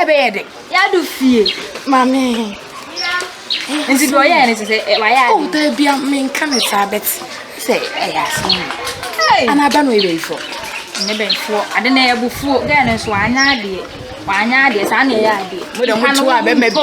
ɛbɛyɛ dɛ. yɛado fie maame nti deɛ ɔyɛ ne sɛ sɛ wayɛ ade ɔda bia menka ne saa bɛt sɛ ɛyɛ asɛm ana aba no ɛbɛyifoɔ ne bɛyifoɔ ade na ɛbufuo gɛɛ no nso wanyɛ adeɛ wanyɛ adeɛ saa na ɛyɛ adeɛ mo dɛ motoa bɛma bi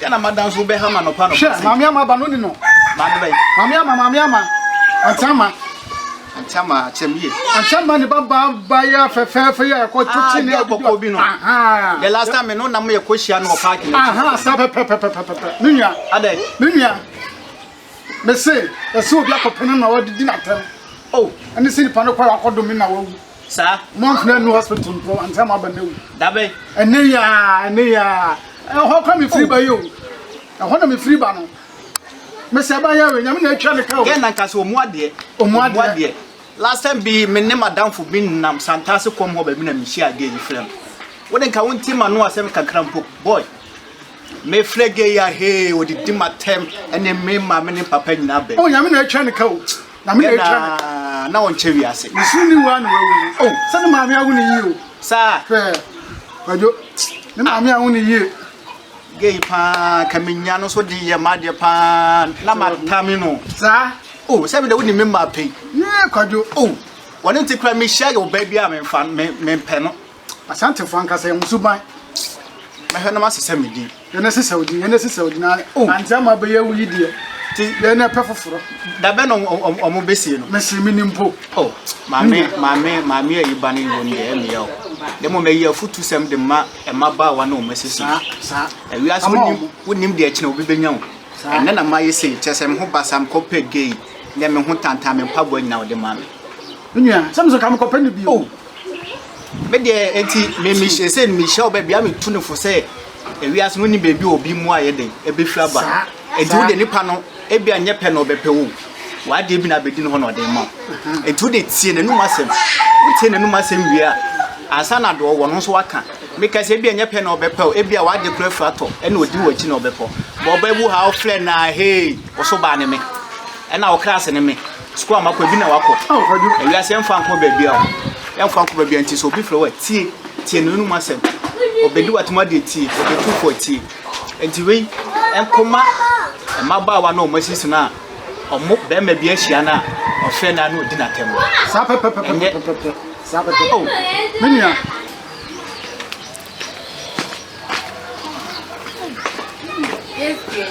Dɛn na m'ada nso bɛha ma nɔpa nɔpa sɛ. Hwɛ, maame ama aba no ni no. Maame bɛn? Maame ama, maame ama. Ante ama. Ante ama akyɛm yie. Ante ama ne ba ba ba yɛ fɛfɛɛfɛ yɛ ɛkɔ to ti ne ɛkɔkɔ bi no. The last time me no nam yɛ kɔ hyia no wɔ paaki no. Aha, saa pɛpɛpɛpɛpɛ. Me nua. Adɛ. Me nua. Me se, ɛsɛ obi akɔpɛ no na ɔde di n'atɛm. Oh. Ɛne sɛ nipa no kɔ akɔdome na wawu. Saa. Mo nfena nu hospital mpo ansa mo aba na wu. Dabe. Ɛnɛ yi aa ɛnɛ yi aa ɛhɔ kɔ me firi ba yi o ɛhɔ na me firi ba no mesɛ ba yɛ we nyame na atwa ne ka o. Gɛn na nka sɛ ɔmu adeɛ. Ɔmu adeɛ. Last time bi me ne madamfo bi nam Santase kɔm hɔ baabi na me hyia gay yi frɛ no. Wo de nka wo nti ma no asɛm kakra mpo boy. Me frɛ gay a hee ɔdidi ma tɛm ɛne me ma me ne papa nyinaa bɛn. O nyame na atwa ne ka o. Na me na atwa me. Yɛnaa na ɔnkyɛ wiase. Me soro ne wura na wawu. O, oh, sɛ ne maame awo ne yie o. Saa. Hwɛ, wadwo, ne ah. maame awo ne yie. Gay paa, ka me nya no so de yɛ m'adeɛ paa, na matame no. Saa. O, oh, sɛ me de wo ne me mmaa pɛi. Yee, kwadwo. O, oh, wɔne nti kura mehyia yɛ ɔbaa bi a memfa, me, mempɛ no. Asantefo ankasa yɛ mo suban. Mɛhwɛ na masesa me din. Yɛn na ɛsesa odin, yɛn na ɛsesa odin ara. Oh. Ante ama abɛyɛ awu yi deɛ. Ti yɛn na ɛpɛ foforɔ. Dabɛ na ɔmo bɛsie no. Mɛsi mi ni mpo. Oh, maame, maame, maame a yi ba ne ngo no deɛ ɛmea o. Dɛ mo mɛyi afutu sɛm de ma ɛma baawa na ɔmo asisi. Saa, saa. Ɛwia so nim, wo nim deɛ ɛkyina obi bɛnya o. Saa. Ɛnɛ na ma yɛ sei, kyɛ sɛ me ho basa me kɔpɛ gay, nyɛ me ho tantan me mpaboa nyina ɔde ma me. Nua, sɛ me so ka me kɔpɛ ne bi o. Oh. me deɛ eti me me hyɛ sɛ me hyɛ ɔbɛ bia me tu ne fo sɛ ewiase no ni beebi obi mu ayɛ den ebehwi aba eti wo de nipa no ebi anyɛ pɛ na ɔbɛpɛ wo wade bi na abedi no hɔ na ɔde ma eti wo de tie n'anum asɛm wo tie n'anum asɛm wie a ansa na deɛ ɔwɔ no nso waka meka sɛ ebi anyɛ pɛ na ɔbɛpɛ wo ebi a wade kura fura tɔ ɛna odi wɔ akyi na ɔbɛpɔ bɔ ɔbɛbu ha ɔfrɛ na hei ɔso baa ne me ɛna ɔkra ase ne me Sukuu a makɔ ebi na wakɔ. Ewiase yɛn fa nkɔ baabi a yɛn fa nkɔ baabi a nti sɛ obi fira wa tie tie no enum asɛm. Obedi watum adeɛ tie obetu fo tie. Nti wei nkɔma mmabaawa na wɔn asisi no a wɔn bɛrima bi ahyia no a ɔfɛ no ano odi n'atɛm. Saa pɛpɛpɛpɛpɛpɛ saa pɛpɛ. Oh me nua. Yes, yes.